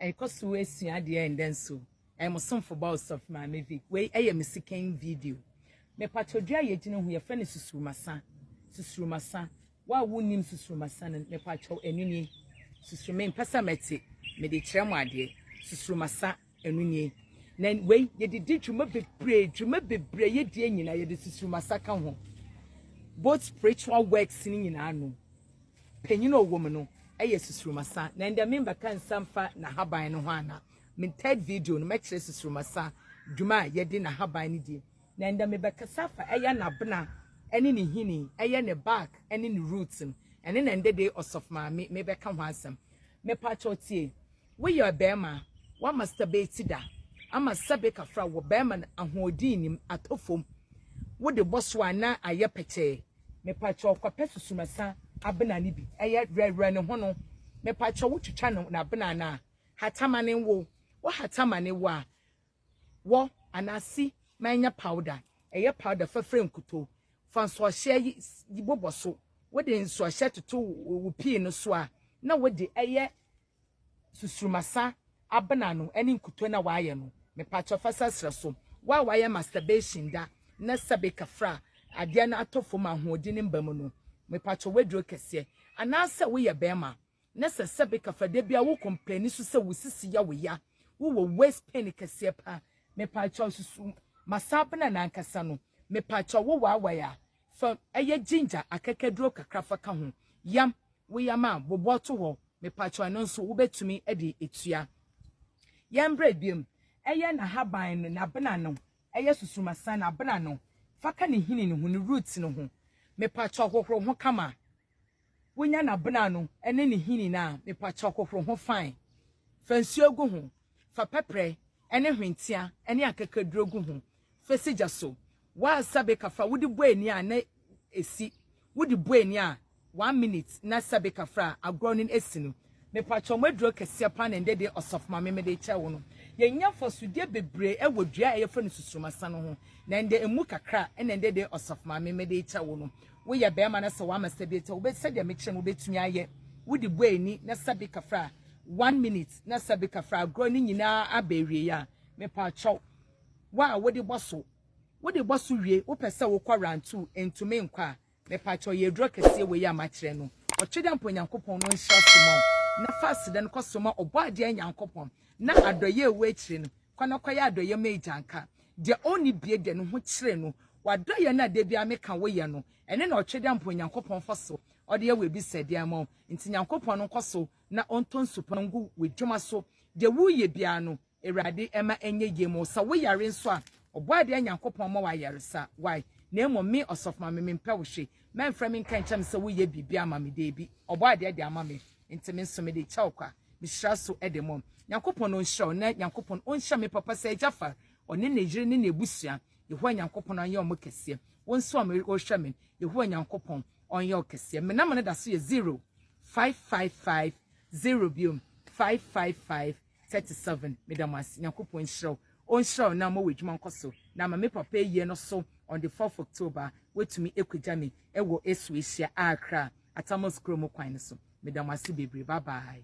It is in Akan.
Ɛkɔ so esua adeɛ ɛndɛ nso. Ɛyɛ mo somfo ba Ɔsɔfo Maame Vic. Wei ɛyɛ me second video. Mepatwɔ dua a yɛgyina ho yɛfrɛ no susurumasa. Susurumasa. Wo a wonnim susurumasa no mepatwɔ ɛno nie. Susuru mempɛ sɛ mɛte. Mede kyerɛ mo adeɛ. Susurumasa ɛno nie. Na wei yɛde di dwuma bebree dwuma bebree yɛdie nyinaa yɛde susurumasa ka ho. Both spiritual works no nyinaa no. Panyin a ɔwɔ mu no yɛ susurumasa na ndɛ me mbɛka nsa mfa n'ahaban no ho ana. Me third video no mɛkyerɛ susurumasa dwuma a yɛde n'ahaban no die. Na ndɛ me bɛkasa afa ɛyɛ n'abena ɛne ne hini ɛyɛ ne bark ɛne ne roots no. Ɛne na ndɛ dei ɔsɔfo maame me bɛka ho asɛm. Me pakyɛw tie. Wo yɛ ɔbɛɛma a wa masturbate da ama sɛbe kafra wɔ bɛɛma no ahoɔden nim atɔ fom wo de bɔ so a na ayɛ pɛtɛɛ mepakyɛw kɔ pɛ susumasa abena no bi ɛyɛ werɛwerɛ ne ho no mepakyɛw wo twitwa no nabena no a hata ma ne wo wo hata ma ne wo a wɔ anaa si ma ɛnyɛ powder ɛyɛ powder fa fira nkuto fa nsoɔhyɛ yi bobɔ so wo de nsoɔhyɛ toto wo pii no so a na wo de ɛyɛ Susurumasa abena no ne nkutoo na wayɛ no mepakyɛw fa sa sra so wo a wayɛ masturbation da na sɛbe kafra adeɛ no atɔ fam a ahoɔden no mma mu no mepakyɛw w'aduro kɛseɛ anaasɛ woyɛ bɛɛma na sɛ sɛbe kafra da biara wo kɔmplɛni so sɛ wo sisi yɛ wo ya wo wɔ waist pain kɛseɛ paa mepakyɛw susu masa abena no ankasa no mepakyɛw wo waawai a Fa ɛyɛ ginger akɛkɛduro kakra fa ka ho. Yam, wo yam a bobɔ to hɔ mepakyɛw ɛno nso wobɛtumi de atua. Yɛn brɛ biom, ɛyɛ nahaban no nabena no, ɛyɛ susumasan nabena no, fa ka ne nhini no ho, ne root no ho mepakyɛw hohoro ho kama. wonya n'abena no ne ne hini no a, mepakyɛw hohoro ho fine. Fa nsuo gu ho. Fa pɛprɛ ne hwentia ne akakaduro gu ho. Fa si gya so. Woasa beka fra a, wode bɔ ani a na esi. Wode bɔ ani a, one minute na sa beka fra a, agorɔ no asi no. Mepakyɛw mo aduro kɛseɛ paa na ɛndɛ deɛ ɔsɔfo mame mede rekyɛ wo no. Yɛnya mfasodeɛ bebree wɔ dua a yɛfrɛ no susurumasa no ho na ɛndɛ ɛmu kakra na ɛndɛ deɛ ɔsɔfo mame mede rekyɛ wo no. Woyɛ bɛɛma na sɛ wama sɛ bɛtɛ wo bɛ sɛdeɛ mekyerɛ mu bɛtumi ayɛ. Wode bɔ ani na sɛ beka fra one minute na sɛ beka fra agorɔ no nyinaa aba awie a mepakyɛw wo a wode bɔ so wode bɔ so wie wopɛ sɛ wokɔ round two ɛntumi nkɔ a Mepakyɛw yɛ aduro kɛseɛ wei a makyerɛ no. Ɔtwedeampa Onyankopɔn no nhyira so ma wo, na fa aseda no kɔ so ma Ɔbɔadeɛ Nyankopɔn, na adɔeɛ a ɛwɔ akyire no, kɔ na kɔyɛ adɔeɛ ma Agyanka. Deɛ ɔnni bie deɛ, ne ho kyere no. W'adɔeɛ no a da biara meka woyɛ no, ɛno na Ɔtwedeampa Onyankopɔn fa so ɔde yɛ w'abisadeɛ ama wo. Nti Nyankopɔn no nkɔ so na ɔntɔ nsupa ngu w'adwuma so. Deɛ woreyɛ biara no, Awurade mma ɛnyɛ yie ma wo. Sɛ wo yare nso a, Ɔbɔadeɛ Nyankopɔn mma wo ayaresa. Wai? Na mmom me, Ɔsɔfo Maame, mempɛ wo hwe. Mɛmfrɛ me nka nkyerɛ me sɛ wo yɛ biribi ama me. Daabi. Ɔbɔadeɛ de ama me, nti me nso mede kyɛ wo kwa. Mehyira so de mmɔ. Nyankopɔn ɔnhyira wo, na Nyankopɔn ɔnhyira me papa Sir Jaffar, ɔne ne yere ne n'abusua. Yehowa Nyankopɔn ɔnyɛ wɔn kɛseɛ. Wo nso a wɔrehwɛ me, Yehowa Nyankopɔn ɔnyɛ wo kɛseɛ. Me number no da so yɛ zero, five, five, five, zero biom, five, five, five, thirty seven meda mo ase nyankopɔn nhyira wo ɔnhyira wo na ama w'adwuma nkɔ so na ama me papa ayie no so on the fourth october watumi akugya me ɛwɔ esu ahyia akra atamos kuro mu kwan no so meda mo ase bebree bye bye.